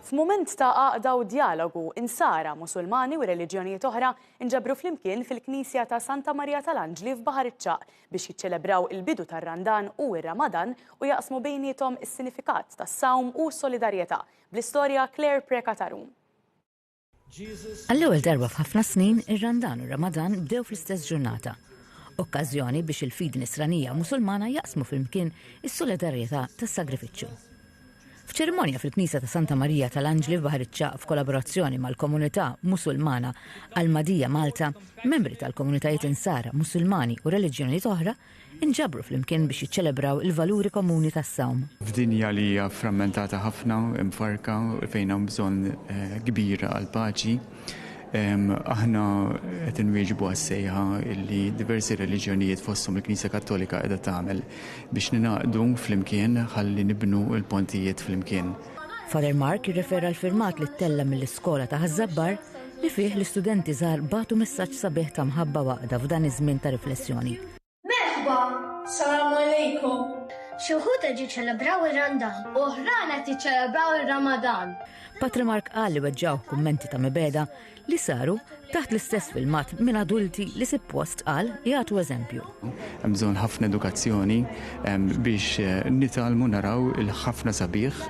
F'mument ta' għaqda u djalogu, Insara, Musulmani u reliġjonijiet oħra nġabru flimkien fil-Knisja ta' Santa Marija tal-Anġli f'Baħar iċ-Ċagħaq biex jiċċelebraw il-bidu tar-Randan u r-Ramadan u jaqsmu bejniethom is-sinifikat tas-sawm u s-solidarjetà, bl-istorja Claire Preca Tarum. Għall-ewwel darba f'ħafna snin, ir-Randan u r-Ramadan bdew fl-istess ġurnata. Okkażjoni biex il-fidi Nisranija Musulmana jaqsmu flimkien is-solidarjetà tas-sagrifiċċju. F'ċerimonja fil-Knisja ta' Santa Marija tal-Anġli f'Baħriċċa f'kollaborazzjoni mal-komunità Musulmana għal Madija Malta, membri tal-komunitajiet Insara, Musulmani u reliġjonijiet oħra inġabru flimkien biex jiċċelebraw il-valuri komuni tas-sawm. F'dinja li hija frammentata ħafna, imfarrka, fejn hawn bżonn kbir għall-paċi, aħna qed inwieġbu għas-sejħa li diversi reliġjonijiet fosthom il-Knisja Kattolika qiegħda tagħmel biex ningħaqdu flimkien ħalli nibnu l-pontijiet flimkien. Father Mark jirrefera l-firmat li ttella' mill-iskola ta' Ħaż-Żabbar li fih l-istudenti żgħar bagħtu messaġġ sabiħ ta' mħabba u għaqda f'dan iż-żmien ta' riflessjoni. Merħba! Salaam Alejkum! Xi wħud qed jiċċelebraw ir-Randan. Oħrajn qed jiċċelebraw ir-Ramadan. Patre Mark qal li weġġgħuh kummenti ta' mibegħda li saru taħt l-istess filmat minn adulti li sippost qal jagħtu eżempju. Hemm bżonn ħafna edukazzjoni biex eh, nitgħallmu naraw il-ħafna sabiħ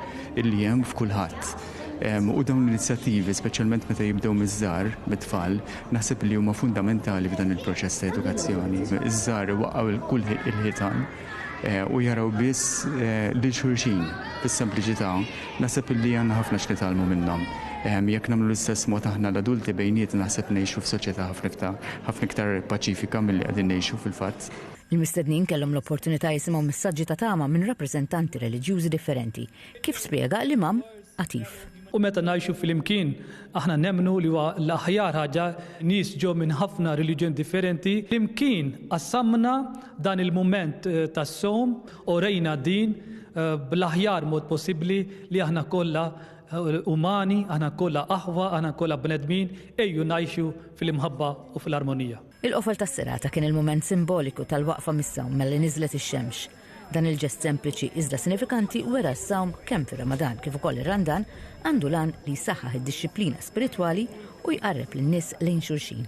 illi hemm f'kulħadd U dawn l-inizjattivi, speċjalment meta jibdew miż-żar, mit-tfal, naħseb li huma fundamentali f'dan il-proċess ta' edukazzjoni. Iż-żar waqgħu kull il-ħitan u jaraw biss lil xulxin fis-sempliċità, naħseb li għandna ħafna x'nitgħallmu minnhom. Jekk nagħmlu l-istess mod aħna l-adulti bejnietna naħseb ngħixu f'soċjetà ħafna ħafna iktar paċifika milli qegħdin ngħixu fil-fatt. Il-mistednin kellhom l-opportunità jisimgħu messaġġi ta' tama minn rappreżentanti reliġjużi differenti, kif spjega l-Imam Atif. U meta ngħixu flimkien, aħna nemmnu li huwa l-aħjar ħaġa, nies ġew minn ħafna reliġjoni differenti, flimkien qassamna dan il-mument tas-sawm u rejna din bl-aħjar mod possibbli li aħna kollha umani, aħna kollha aħwa, aħna kollha bnedmin, ejju ngħixu fl-imħabba u fl-armonija. Il-qofol tas-serata kien il-mument simboliku tal-waqfa mis-sawm malli niżlet ix-xemx. Dan il-ġest sempliċi iżda sinifikanti wera s-sawm kemm fir-Ramadan kif ukoll ir-Randan għandu l-għan li jsaħħaħ id-dixxiplina spiritwali u jqarreb lin-nies lejn xulxin.